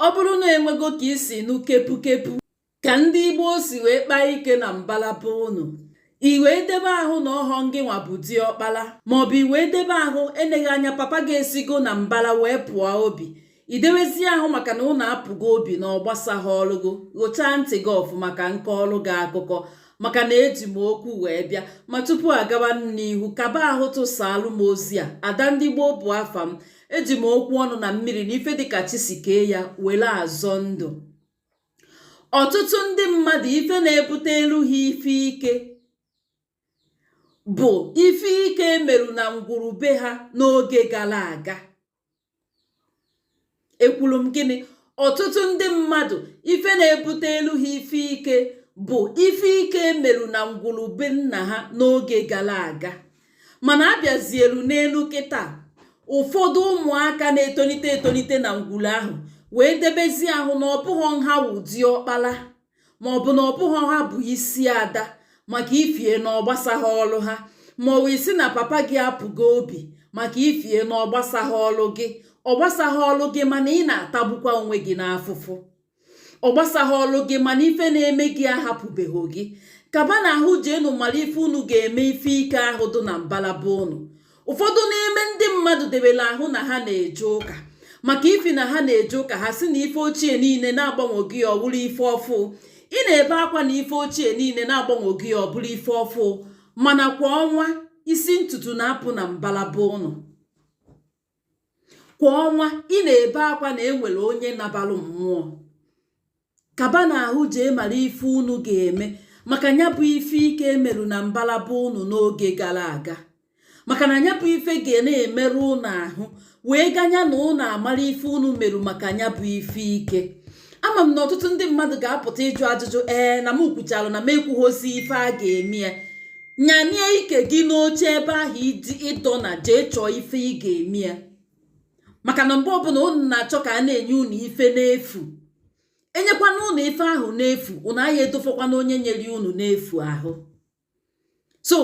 ọ bụrụ na enwego ka i si nụ kepukepu ka ndị gboo si wee kpaa ike na mbala be unu i wee debe ahụ na ọhọ ngị nwa bụ diọkpala maọbụ i wee debe ahụ eleghị anya papa gị esigo na mbala wee pụọ obi i dewezi ahụ maka na ụnụ apụgo obi na ọ gbasahọrụ gị ghochaa ntị gị ọfụma ka m kọọrụ gị akụkọ maka na eji m okwu wee bịa ma tupu agawa n'ihu kaba ahụ tụsaalụ m ozi a ada ndị gboo bụ afa m eji m okwu ọnụ na mmiri na ife dịka chi si kee ya were azọ ndụ ọtụtụ ndị mmadụ ife na-ebutelụ ha ife ike bụ ife ike e merụ na ngwuru be ha n'oge gara aga ekwuru m gịnị ọtụtụ ndị mmadụ ife na-ebutelụ ha ife ike bụ ife ike e merụ na ngwuru be nna ha n'oge gara aga mana a bịazielu n'elu kịta ụfọdụ ụmụaka na-etolite etolite na ngwuru ahụ wee debezie ahụ na ọ bụghọ nha wụ diọkpala ma ọ bụ na ọ bụghọ ha bụ isi ada maka ifie na ọ gbasahọlụ ha ma ọ wụ ị sị na papa gị apụgo obi maka ifie na ọ gbasahọlụ gị ọ gbasahọlụ gị mana ị na-atagbukwa onwe gị n'afụfụ ọ gbasahọlụ gị mana ife na-eme gị ahapụbeghị gị kabanụ ahụ jeenụ mara ife unu ga-eme ife ike ahụ dị na mbala be unu ụfọdụ n'ime ndị mmadụ debere ahụ na ha na-eje ụka maka ifi na ha na-eje ụka ha sị na ife ochie niile na a gbanwego ya ọ bụrụ ife ọfụ ị na-ebe akwa na ife ochie niile na a gbanwego ya ọ bụrụ ife ọfụ mana kwa ọnwa isi ntutu na-apụ na mbala be ụnụ kwa ọnwa ị na-ebe akwa na e nwere onye nabalụ mmụọ kabanụ ahụ jee mara ife unu ga-eme maka nya bụ ife ike e merụ na mbala be unu n'oge gara aga maka na nya bụ ife ga na-emerụ unu ahụ wee ganya na unu amara ife unu merụ maka nya bụ ife ike ama m na ọtụtụ ndị mmadụ ga-apụta ịjụ ajụjụ ee na m kwuchalụ na m ekwuhọzi ife a ga-eme ya nyanie ike gị n'oche ebe ahụ ị ị dọ na jee chọọ ife ị ga-eme ya maka na mgbe ọbụla unu na-achọ ka a na-enye unu ife n'efu e nyekwanụ unu ife ahụ n'efu unu aya edofekwanụ onye nyere unu n'efu ahụ so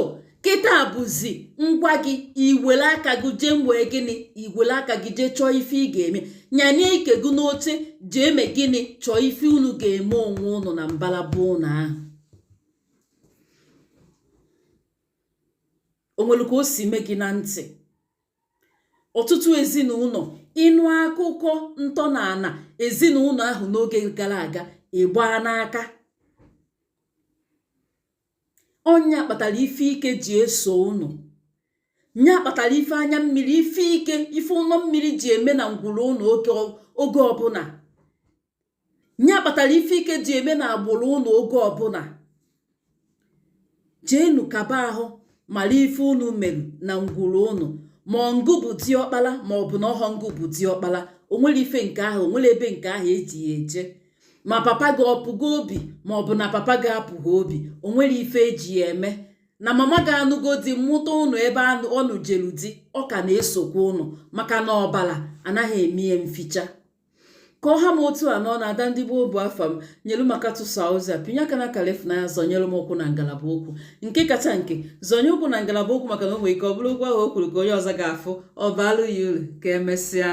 kịta bụzi ngwa gị i were aka gị jee mee gịnị i were aka gị jee chọọ ife ị ga-eme nyanie ike gị n'oche jee mee gịnị chọọ ife unu ga-eme onwe ụnụ na mbala be ụnụ ahụ o nwere ka o si mee gị na ntị ọtụtụ ezinụlọ ị nụ akụkọ ntọala ezinụlọ ahụ n'oge gara aga ị gbaa n'aka ọ nya kpatara ife ike ji eso unu nya kpatara ife anya mmiri ife ike ife ụlọ mmiri ji eme na ngwuru ụlọ oge ọbụla nya kpatara ife ike ji eme na agbụrụ unu oge ọbụla jeenu kaba ahụ mara ife unu merụ na ngwuru unu ma ọ ngụ bụ diọkpala ma ọ bụ na ọhọ ngụ bụ diọkpala o nwere ife nke ahụ o nwere ebe nke ahụ e ji ya eje ma papa gị apụgo obi ma ọ bụ na papa gị apụghị obi o nwere ife e ji ya eme na mama gị anụgo di mụta unu ebe ọ nụjelu di ọ ka na-esokwa unu maka na ọbala anaghị eme ya mficha ka ọ ha m otu a na ọ na ada ndị gboo bụ afa m nyelu m aka tụsa ozi a pịnye aka n'akala ifụnanya zọnyere m ụkwụ na ngalaba okwu nke kacha nke zọnye ụkwụ na ngalaba okwu maka na o nwere ike ọ bụrụ okwu ahụ o kwuru ka onye ọzọ ga-afụ ọ baalụ ya uru ka emesịa